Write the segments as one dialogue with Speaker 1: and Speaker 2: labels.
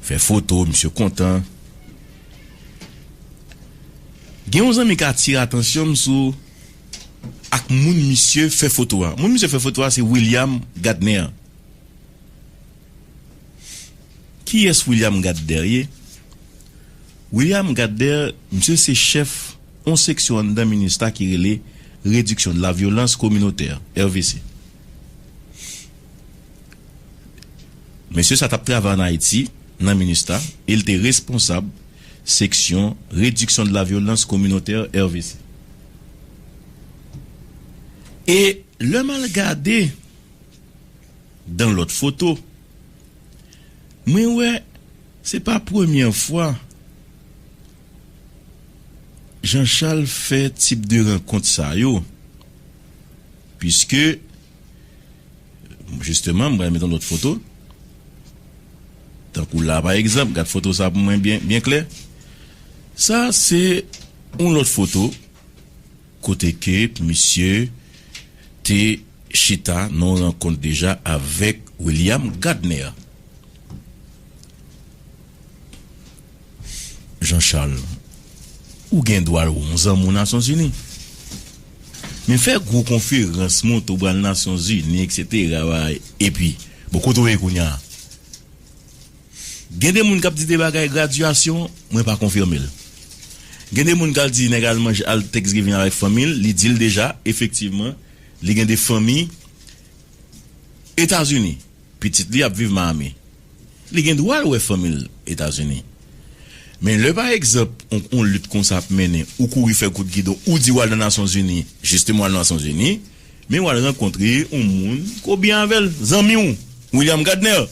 Speaker 1: Fè foto misye kontan. Gen yon zanmi k atire atansyon m sou ak moun misye fè foto a. Moun misye fè foto a se William Gardner. Kiyès William Gardner ye? William Gardner misye se chèf yon seksyon anndan Minustah ki rele Réduction de la Violence Communautaire, RVC. Mesye sa t ap travay ann Ayiti nan Minustah e l te responsab seksyon Réduction de la violence communautaire, RVC. E lè m al gade dan lòt foto, mwen wè se pa premyè fwa Jean Charles fè tip de rankont sa yo, puiske. Justement m pral met yon lòt foto tankou la pa egzanp gad foto sa pou mwen byen klè sa se yon lòt foto kote ke misye te chita nan yon rankont deja avèk William Gadner. Jean Charles, Ou gen dwa l, ou yon zanmi Nasyonzini. Men fè gwo konferans, montre ou pral Nasyonzini eksetera, epi, bon kote ou ye kounya? Gen de moun k ap di de bagay gradyasyon, mwen pa konfime l. Gen de moun k al di nèg al manje al Thanksgiving avèk fanmi l, li di l deja efektivman li gen de fanmi Etazini. Pitit li ap viv Miami. Li gen dwa l wè fanmi l Etazini. Men lè pa egzanp yon lit konsa ap mennen ou kouri fè kout gidon ou di w al nan Nasyon Zini jisteman w al nan Nasyon Zini men w al rankontre yon moun ke w byen avè l zanmi w William Gardner.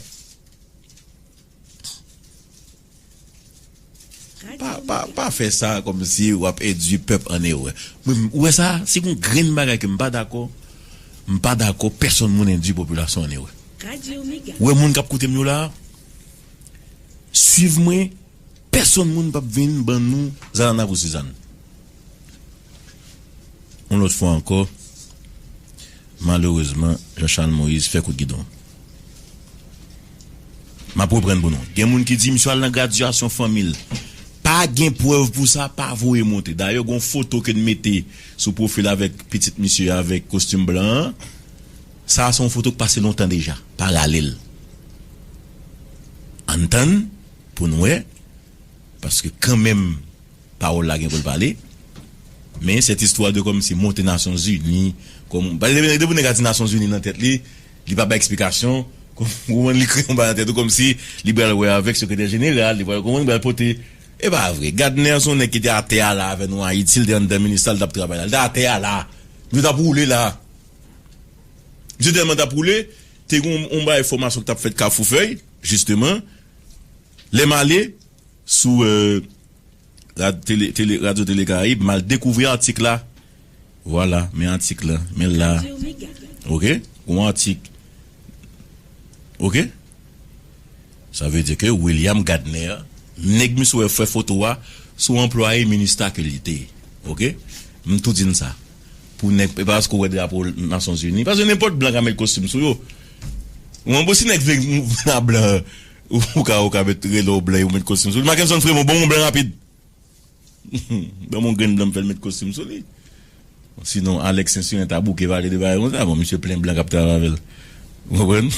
Speaker 1: Pa fè sa kòmsi w ap endui pèp an erè. Mwen, ou wè sa, si gon grenn bagay ke m pa dakò, m pa dakò pèsonn moun endui popilasyon an erè. Ou wè moun k ap koute m yo la a? Suiv mwen, pèsonn moun p ap vin ban nou zanana pou Sizann. Yon lòt fwa ankò, malerezman, Jean Charles Moïse fè kout gidon. M ap reprann pou nou. Gen moun ki di misye al nan gradyasyon fanmi l. Pa gen prèv pou sa, pa voye monte. Dayè gen yon foto ke n mete sou pwofil avèk pitit misye a avèk kostim blan an. Sa a se yon foto ki pase lontan deja. Pa rale l. Ann tann pou n wè. Paske kanmenm pawòl la gen pou l pale. Men sèt istwa de kòmsi monte nasyon zini kòm paske depi nèg la di nasyon zini nan tèt li li pa bay eksplikasyon ou konprann li kreye yon bagay nan tèt li kòmsi li pral wè avèk sekretè jeneral li pral konprann li pral pote e pa vre Gadner se yon nèg ki te atè a la avè nou ayiti si l te anndan minista l t ap travay la li ta atè a la misye t ap woule la misye tèlman t ap woule te gen yon bagay fòmasyon ki t ap fèt kafoufèy jisteman. Lè m ale sou rad tele tele radyo tele karayib m al dekouvri atik la vwala men atik la men l la ok gon atik ok sa vle di ke William Gadner nèg misye wè fè foto a se w anplwaye minustah ke li te ok m tou di n sa pou nèg e pa paske w wè drapo nasyonzini paske nenpòt blan ka met kostim sou yo w konprann si nèg vle vin a blan. Ou ka ou ka met rele w blan epi w met kostim sou li. Makenson frem ou banm yon blan rapid. Banm yon grenn blan m fè l met kostim sou li. Sinon Alex sensiren ta bouke pale de bagay konsa. Bon misye plen blan k ap travay avè l. Ou konprann?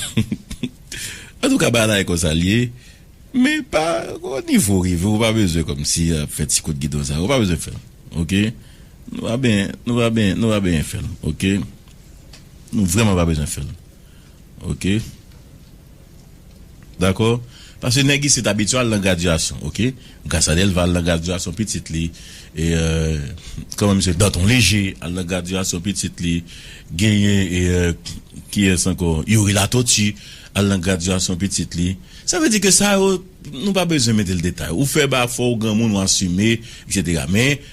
Speaker 1: Antouka bagay la e konsa l ye. Men pa o nivo w rive ou pa bezwen kòmsi ap fè ti kout gidon sa yo. Ou pa bezwen fè l ok. Nou pa benyen nou pa benyen nou pa benyen fè l ok. Nou vrèman pa bezwen fè l ok. Dakò? Paske nèg isit abitye al nan gradyasyon, oke. Gras a Delva al nan gradyasyon pitit li. E, kòman misye? Danton Leje al nan gradyasyon pitit li. Genyen e, kiyès ankò? Youri Latoti al nan gradyasyon pitit li. Sa vle di ke sa yo, nou pa bezwen mete l detay. Ou fè ba fò ou granmoun ou asime, eksetera. Men,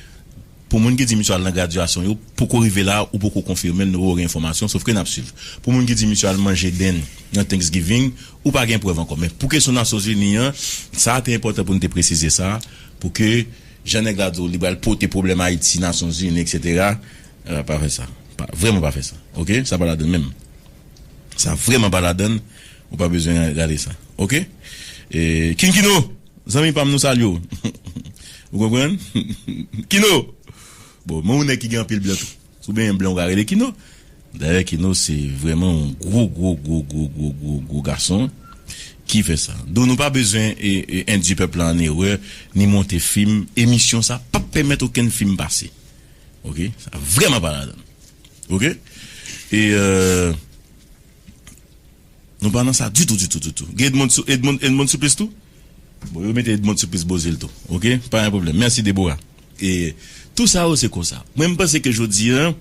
Speaker 1: Pou moun ki di misye al nan gradyasyon yo poko rive la ou poko konfime l nou poko gen enfòmasyon sofke nap swiv. Pou moun ki di misye al manje dend nan Thanksgiving ou pa gen prèv ankò men pou kesyon Nasyonzini an sa te enpòtan pou nou te presize sa pou ke jan nèg la di w li pral pote pwoblèm Ayiti Nasyonzini etc pa fè sa vrèman pa fè sa ok sa pa ladann menm sa vrèman pa ladann ou pa bezwen gade sa ok King Kino! Zanmi pam nou salye w ou konprann kino bon men yon nèg ki gen anpil blan tou si w benyen blan ou ka rele kino dayè kino se vrèman yon gwo gwo gwo gwo gwo gwo gwo gason ki fè sa don nou pa bezwen endui pèp la an erè ni monte fim emisyon sa pap pèmèt okenn fim pase ok sa vrèman pa ladan ok e. Nou pa nan sa ditou ditou ditou. Gen Edmond sou Edmond Edmond Supplice tou? Bon yo mete Edmond Supplice bo zil tou ok pa gen pwoblèm mèsi Deborah. E tou sa yo se konsa. Mwen m panse ke jodi an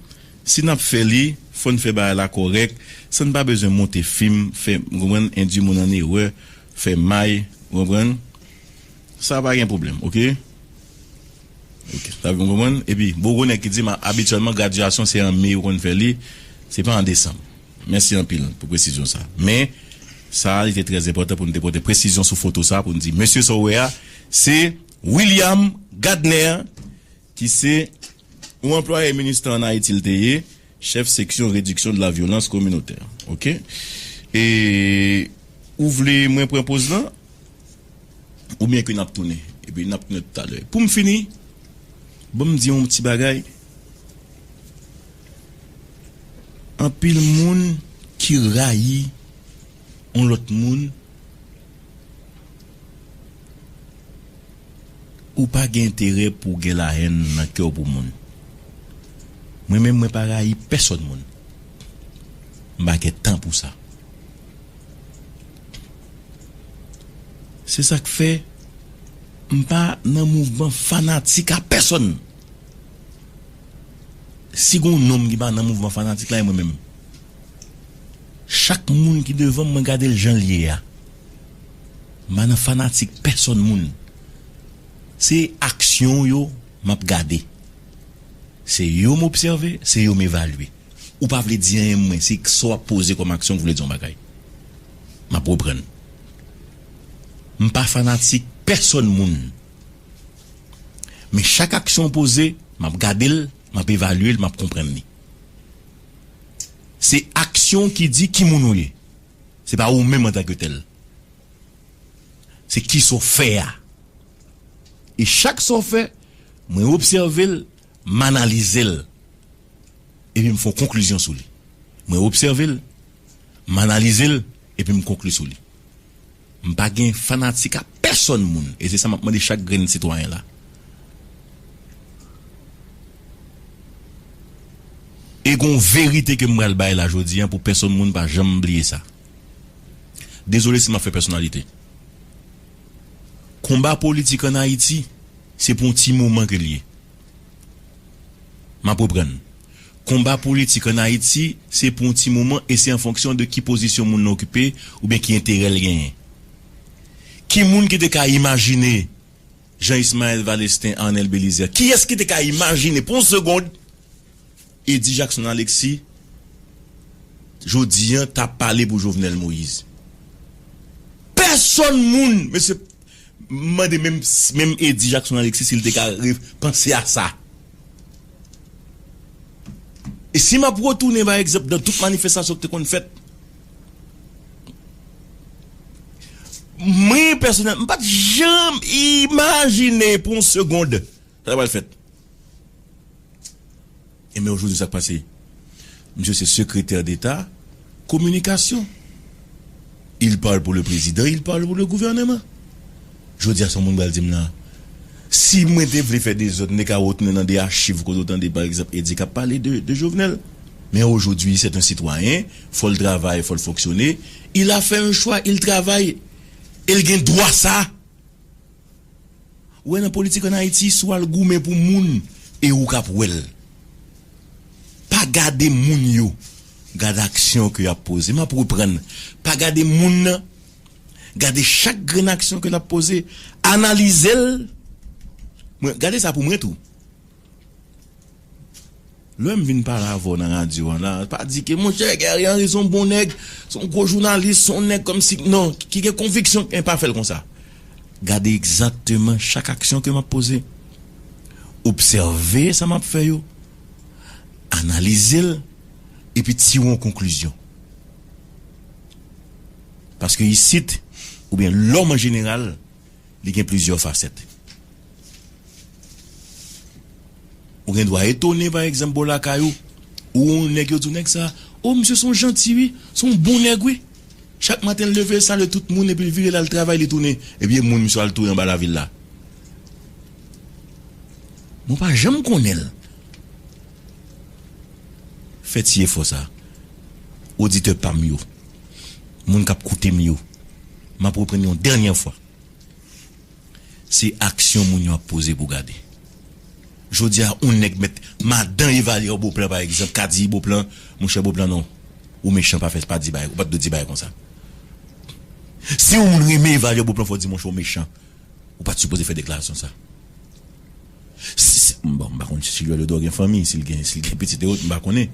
Speaker 1: si n ap fè li fò n fè bagay la kòrèk san n pa bezwen monte fim fè ou konprann endui moun an erè fè may ou konprann. Sa pa gen pwoblèm ok. Ok sa gen konprann epi boko nèg ki dim abityèlman gradyasyon se an me yo konn fè li se pa an desanm mèsi anpil pou presizyon sa men sa li te trè enpòtan pou nou te pote presizyon sou foto sa pou nou di mesye sa w wè a se William Gadner ki se yon anplwaye minustah an Ayiti li te ye. Chèf seksyon rediksyon de la vyolans kominotè ok e ou vle mwen pran poz lan oubyen ke nap tounen epi nap tounen tout alè poum fini banm di yon ti bagay anpil moun ki rayi yon lòt moun ou pa gen enterè pou w gen lahèn nan kè w pou moun mwen menm mwen pa rayi pèsòn moun m pa gen tan pou sa se sa k fè m pa nan mouvman fanatik a pèsòn si gen yon nonm ki pa nan mouvman fanatik la e mwen menm. Chak moun ki devanm mwen gadel janl ye a mpa nan fanatik pèsòn moun se aksyon w yo map gade se yo m obsève se yo m evalye ou pa vle di anyen mwen se ksa wap poze kòm aksyon ki vle di yon bagay map reprann mpa fanatik pèsòn moun men chak aksyon w poze map gadel map evalye l map konprann li. Se aksyon w ki di ki moun ou ye. Se pa ou menm antanke tèl. Se kisa w fè a. E chak sa w fè, mwen obsève l, m analize l. Epi m fè yon konklizyon sou li. Mwen obsève l, m analize l, epi m konkli sou li. M pa gen fanatik a pèsòn moun e se sa m ap mande chak grenn sitwayen la. E gon verite ke m pral bay la jodi an pou pèsòn moun pa janm bliye sa. Dezole si m ap fè pèsonalite. Konba politik an Ayiti se pou yon ti moman ke l ye. M ap reprann. Konba politik an Ayiti se pou yon ti moman e se an fonksyon de ki pozisyon moun nan okipe oubyen ki enterè l genyen. Ki moun ki te ka imajine Jean Ismael Valestin, Arnel Belizaire, kiyès ki te ka imajine pou yon segond Eddy Jackson Alexis jodi an t ap pale pou Jovenel Moïse? Pèsonn moun! Mesye! M mande menm menm Eddy Jackson Alexis si l te ka panse a sa. E si m ap retounen bay egzanp nan tout manifestasyon ki te konn fèt. Mwen pèsonèl m pa t janm imajine pou yon segond Sa ta pral fèt. Enben ojodi sa k pase? Misye se sekretè deta kominikasyon. Il parle pour le prezidan, il parle pour le gouvernement. Jodi a sa yon moun pral di m la? Si mwen te vle fè dezòd m te ka retounen nan de achiv kote w tande pa egzanp Eddy k ap pale de Jovenel. Men ojodi sèt en sitwayen, fò l travay, fò l fonksyone, il a fè en chwa, il travay e l gen dwa sa. Ou wè nan politik an Ayiti si w al goumen pou moun e ou k ap wè l. Pa gade moun yo, gade aksyon ke y ap poze. M ap reprann, pa gade moun nan, gade chak grenn aksyon ke l ap poze, analize l, mwen, gade sa pou mwen tou. Lè m vin pale avè w nan radyo an la, pa di ke monchè Gary Henry se yon bon nèg, se yon gwo jounalis, se yon nèg kòmsi, non, ki gen konviksyon men pa fè l konsa. Gade egzakteman chak aksyon ke m ap poze, obsève sa m ap fè yo, analize l epi tire yon konklizyon. Paske isit, oubyen lòm an jeneral, li gen plizyè fasèt. Ou gen dwa etone pa egzanp bò lakay ou, ou wè yon nèg yo di w nèg sa, o misye s on janti wi, s on bon nèg wi. Chak maten l leve l salye tout moun epi l vire l al travay li tounen epi e moun misye al touye anba lavil la. Men w pa janm konnen l. Fè ti efò sa oditè pa m yo, moun k ap koute m yo, m ap reprann yon dènyè fwa. Se aksyon moun yo ap poze pou gade. Jodi a on nèg mèt madan evalye on Beauplan pa egzanp ka di Beauplan monchè Beauplan non ou mechan pa fè pa di bagay ou pat dwe di bagay konsa. Si on moun renmen evalye on Beauplan fò di monchè ou mechan ou pat sipoze fè deklarasyon sa. Si se bon m pa konn si Joly Odon gen fanmi si l gen si l gen pitit e ot m pa konnen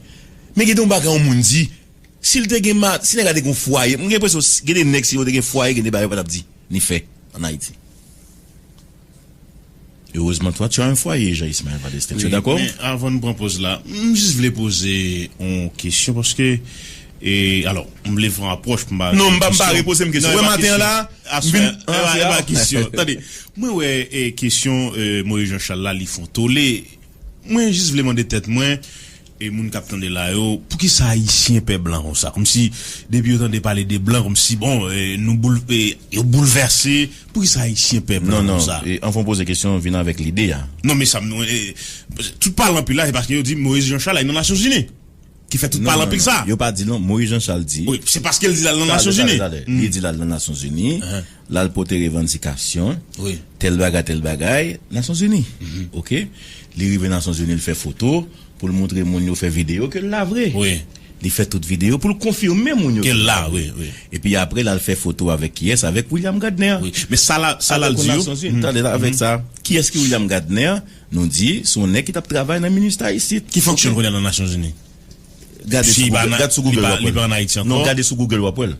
Speaker 1: men gen de on bagay on moun di. Sil te gen ma si nèg la te gen yon fwaye mwen gen enpresyon si gen de nèg si yo te gen fwaye gen de bagay yo pa tap di ni fè an ayiti. Erezman toi tu as un foyer Jean Ismaël Vadestin tu es d'accord? Men avan nou pran poz
Speaker 2: la m jis vle poze yon kesyon paske e alò m vle fon apwòch m pa Non m pa m pa repoze m kesyon
Speaker 1: wè maten an la m vin e pa
Speaker 2: kesyon tande mwen wè e kesyon Moise Jean Charles la li fon tole mwen jis vle mande tèt mwen E moun kap tande la yo, poukisa ayisyen pè blan konsa? Komsi depi yo tande pale de blan komsi bon nou boul yo boulvèse, poukisa ayisyen pè blan konsa? Non non, anvan w poze kesyon an vin
Speaker 1: avèk lide a. Non men sa m non e,
Speaker 2: tout pale anpil la se paske yo di Moyiz Janchal al nan Nasyonzini ki fè tout pale anpil sa. Non non non, yo pa di non, Moyiz Janchal
Speaker 1: di. Wi, se paske l di l al nan
Speaker 2: Nasyonzini. Tade tade tade, li di l al nan
Speaker 1: Nasyonzini, l al pote revandikasyon tèl
Speaker 2: bagay tèl
Speaker 1: bagay Nasyonzini ok li rive Nasyonzini l fè foto pou l moutre moun yo fè videyo ke l la vre li fè tout
Speaker 2: videyo
Speaker 1: pou l konfime moun yo ke l la vre
Speaker 2: epi apre l al fè
Speaker 1: foto avèk kiyès avèk William Gadner men sa
Speaker 2: l al di yo tande la avèk sa
Speaker 1: kiyès ki William Gadner nou di se yon nèg ki t ap travay nan minustah isit ki fonksyon l kounye a nan
Speaker 2: Nasyonzini
Speaker 1: gade sou Google w ap wè l non gade sou Google w ap wè l.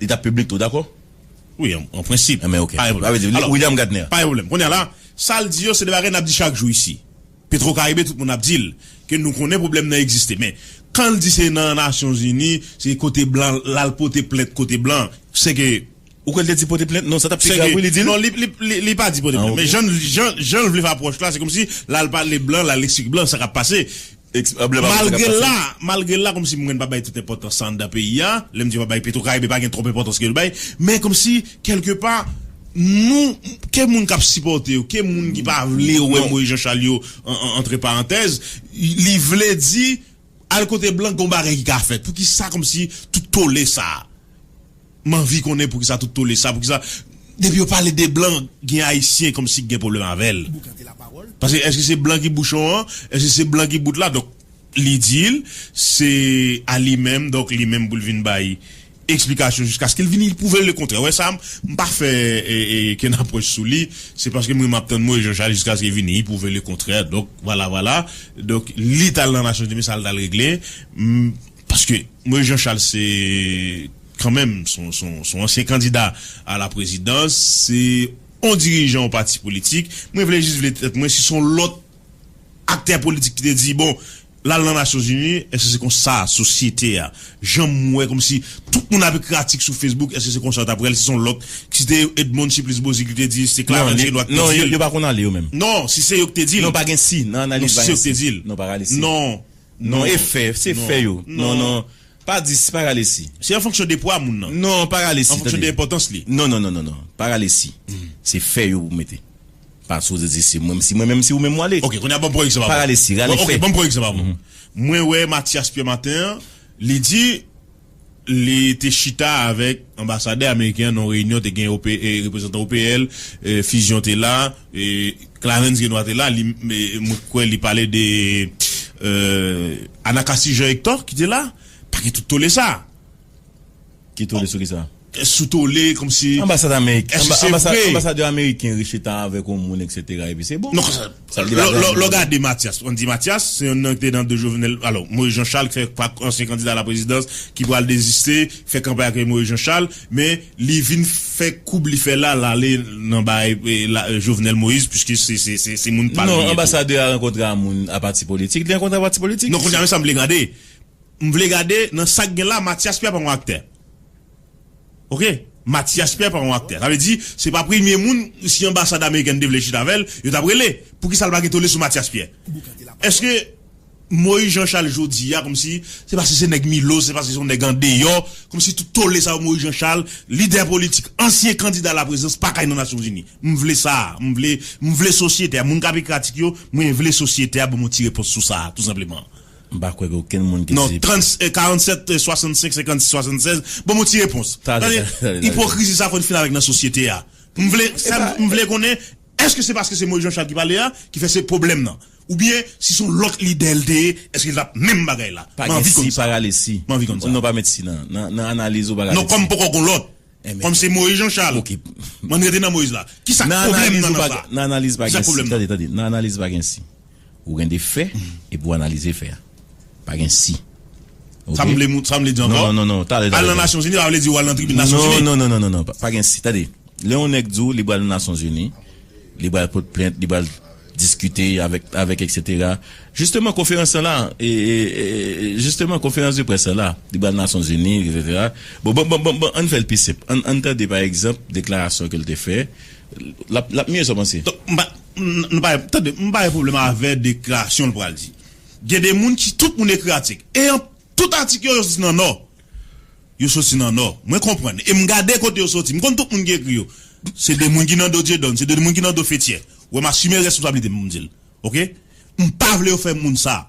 Speaker 1: Li tap piblik tou dakò? Wi an
Speaker 2: prensip. An men ok. Sa vle di
Speaker 1: William Gatner.
Speaker 2: Pa gen pwoblèm.
Speaker 1: Kounye a la,
Speaker 2: sa l di yo se 2 bagay n ap di chak jou isi. Petro Karibe tout moun ap di l ke nou konnen pwoblèm nan egziste. Men, kan l di se nan Nasyon Zini, se kote blan l al pote plent kote blan, se ke. Ou kwè l te di pote
Speaker 1: plent? Non sa t ap pi grav wi li di l. Non li pa
Speaker 2: di pote plent. Men jan l vle fè apwòch la se kòmsi l al pale blan, l al esplike blan sa k ap pase. Malgre la, malgre la kòmsi mwen pa bay tout enpòtans sa anndan peyi a, lè m di m pa bay Petrocaribe pa gen twòp enpòtans ke l bay, men kòmsi kèlke pa nou, ke moun k ap sipòte yo, ke moun ki pa vle wè Moyiz Janchal yo antre parantèz, li vle di al kote blan gen yon bagay ki ka fèt. Poukisa kòmsi tout tole sa a? M anvi konnen poukisa tout tole sa poukisa depi yo pale de blan gen ayisyen kòmsi gen pwoblèm avèl paske èske se blan ki bouchon an èske se blan ki bout la donk li dil se a li menm donk li menm poul vin bay eksplikasyon jiskaske li vini pwouvel le kontrè wè sa m pa fè kenn apwòch sou li se paske m renman ap tann Moyiz Janchal jiskaske vini pwouve le kontrè donk vwala vwala donk li tal nan nasyonzini sa l tal regle m. Paske Moïse Jean Charles se kanmenm son ansyen kandida a la prezidans, se yon dirijan yon pati politik. Mwen vle jis vle tèt mwen si se yon lòt aktè politik ki te di bon l al nan Nasyon Zini èske se kon sa sosyete a jan m wè kòm si tout moun ap ekri atik sou Facebook èske se kon sa yo t ap wè l si se yon lòt si te Edmonde Supplice Beauzile ki te di l si te Clarens Chélois ki te di l. Non yo pa konn
Speaker 1: ale yo menm. Non si se yo ki te di
Speaker 2: l. Non pa gen si nan
Speaker 1: analiz
Speaker 2: pa
Speaker 1: gen si. Non si se yo ki te di l. Non
Speaker 2: pa rale si. Non.
Speaker 1: Non e
Speaker 2: fè, se fè
Speaker 1: yo. Non, non. Pa di si, pa rale si. Se an fonksyon de pwa
Speaker 2: moun nan. Non, pa rale si, tande. An fonksyon
Speaker 1: de enpòtans li. Non,
Speaker 2: non, non, non, non. Pa
Speaker 1: rale si. Se fè yo pou mete. Pa sipoze di se mwen, si mwen menm, si ou menm wale. Ok, kounya banm pran egzanp. Pa
Speaker 2: rale si, rale fè. Ok,
Speaker 1: banm
Speaker 2: pran
Speaker 1: egzanp avò.
Speaker 2: Mwen wè Matyas Pyèmaten, li di. Li te chita avèk anbasadè ameriken an nan yon reyinyon te gen reprezantan OPL, Fusion te la, Clarens Renois te la, mwen kwè li pale de Anacastie Jean Hector ki te la, pa gen tout tole sa. Ki
Speaker 1: tole sou
Speaker 2: kisa? sou tole komsi Anbasad Amerik èske se
Speaker 1: vre? Anba anbasadè
Speaker 2: ameriken ri
Speaker 1: chita avèk yon moun eksetera epi se bon. Non konsa Sa vle di bagay
Speaker 2: an lè w gade Matyas an di Matyas se yon nan ki te nan do Jovenel alò Moyiz Jan Chal fè pa ansyen kandida ala prezidans ki pral deziste fè kanpay ak Moyiz Jan Chal men li vin fè koub li fè la l ale nan bay la Jovenel Moyiz piske se se se se moun pa l li ye tou. Non anbasadè a rankontre
Speaker 1: a moun a pati politik li rankontre a pati politik. Non kounye a men sa m vle gade
Speaker 2: M vle gade nan sak gen la Matyas Pyè pa yon aktè ok Matyas Pyè pa yon aktè sa vle di se pa premye moun si anbasad amerikèn te vle chita avèl yo tap rele poukisa l pa gen tole sou Matyas Pyè eske Moyiz Janchal jodi a kòmsi se paske se nèg Milos se paske se yon nèg andeyò kòmsi tout tole sa yo Moyiz Janchal lidè politik ansyen kandida la prezidans pa kay nan nasyon zini m vle sa m vle m vle sosyete a moun kap ekratik yo mwen vle sosyete a banm yon ti repons sou sa tou senpleman. M pa kwè gen okenn
Speaker 1: moun ki di. Non, 47 65 56 76,
Speaker 2: ban mwen ti repons. Tande, tande. Ipokrizi sa a fò n fin avèk nan sosyete a. M vle, sa m vle konnen, èske se paske se Moyiz Janchal ki pale a ki fè se pwoblèm nan? Oubyen si se yon lòt lidè l te ye, èske l t ap menm bagay la? M anvi konn sa. Pa gen si, pa rale
Speaker 1: si. M anvi konn sa. Non, pa met si nan analiz ou, pa rale si. Non, kòm poko gen lòt.
Speaker 2: Kòm se Moïse Jean Charles, m'en rete nan Moïse la. Ki sa pwoblèm nan nan sa? Nan analiz pa gen si. Tande,
Speaker 1: tande. Nan analiz pa gen si. Ou gen de fè epi ou analize fè a. Pa gen si. Ok? Sa
Speaker 2: vle moun, sa vle di ankò? Non, non, non. Tande, tande. Al nan Nasyon
Speaker 1: Zini pa
Speaker 2: vle di ou al nan tribin Nasyon Zini. Non, non, non, non, non. Pa gen si.
Speaker 1: Tande. Lè yon nèg di ou li pral nan Nasyon Zini, li pral pot plent, li pral. diskite avèk avèk eksetera jisteman konferans sa la e jisteman konferans de près sa la li pral nasyonzini eksetera bon bon bon bon ann fèl pi senp ann ann tande pa egzanp deklarasyon kel te fè lap lap mye sa w panse? Donk m pa nou pa gen
Speaker 2: tande m pa gen pwoblèm avè deklarasyon l pral di gen de moun ki tout moun ekri atik e an tout atik yo yo soti nan nò yo soti nan nò mwen konprann e m gade kote yo soti m konn tout moun ki ekri yo se de moun ki nan do Dyedòn se de moun ki nan do Fetyè Wè m asime responsablite m pou m di l ok. M pa vle yo fè moun sa.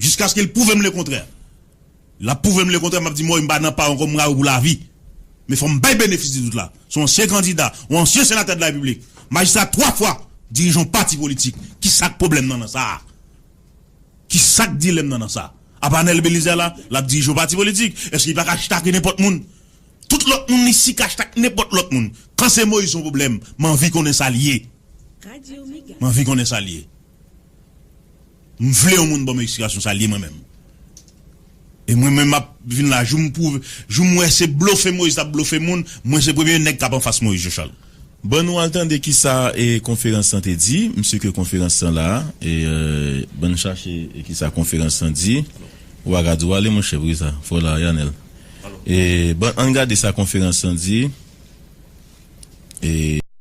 Speaker 2: Jiskaske l pwouve m lekontrè. L ap pwouve m lekontrè m ap di m woy m pa nan pa w ankò m ra w pou lavi. Men fò m bay benefis di dout la. S on ansyen kandida, on ansyen senatè de la repiblik, majistra 3 fwa, dirijan on pati politik. Kisa k pwoblèm nan nan sa? Kisa k dilèm nan nan sa? Apa Anèl Belizè la, l ap dirije on pati politik? Èske li pa ka chita ak nenpòt moun? Tout lòt moun li si kach tak nenpòt lòt moun kan se moise son problèm manvi konnen sal ye manvi konnen sal ye m vle yon moun banm explikasyon sal ye mwen menm e mwen menm map vin la jou m pwouve jou m wè se blofe moise tap blofe moun mwen se premye nèg kap anfas moise jochal. Ban nou al tande
Speaker 1: kisa konferans lan te di m si ke konferans lan la e bann chache kisa konferans lan di ou pa ka di w ale monchè poukisa fò w la a Yanel. Bon, ann gade sa konferans lan di.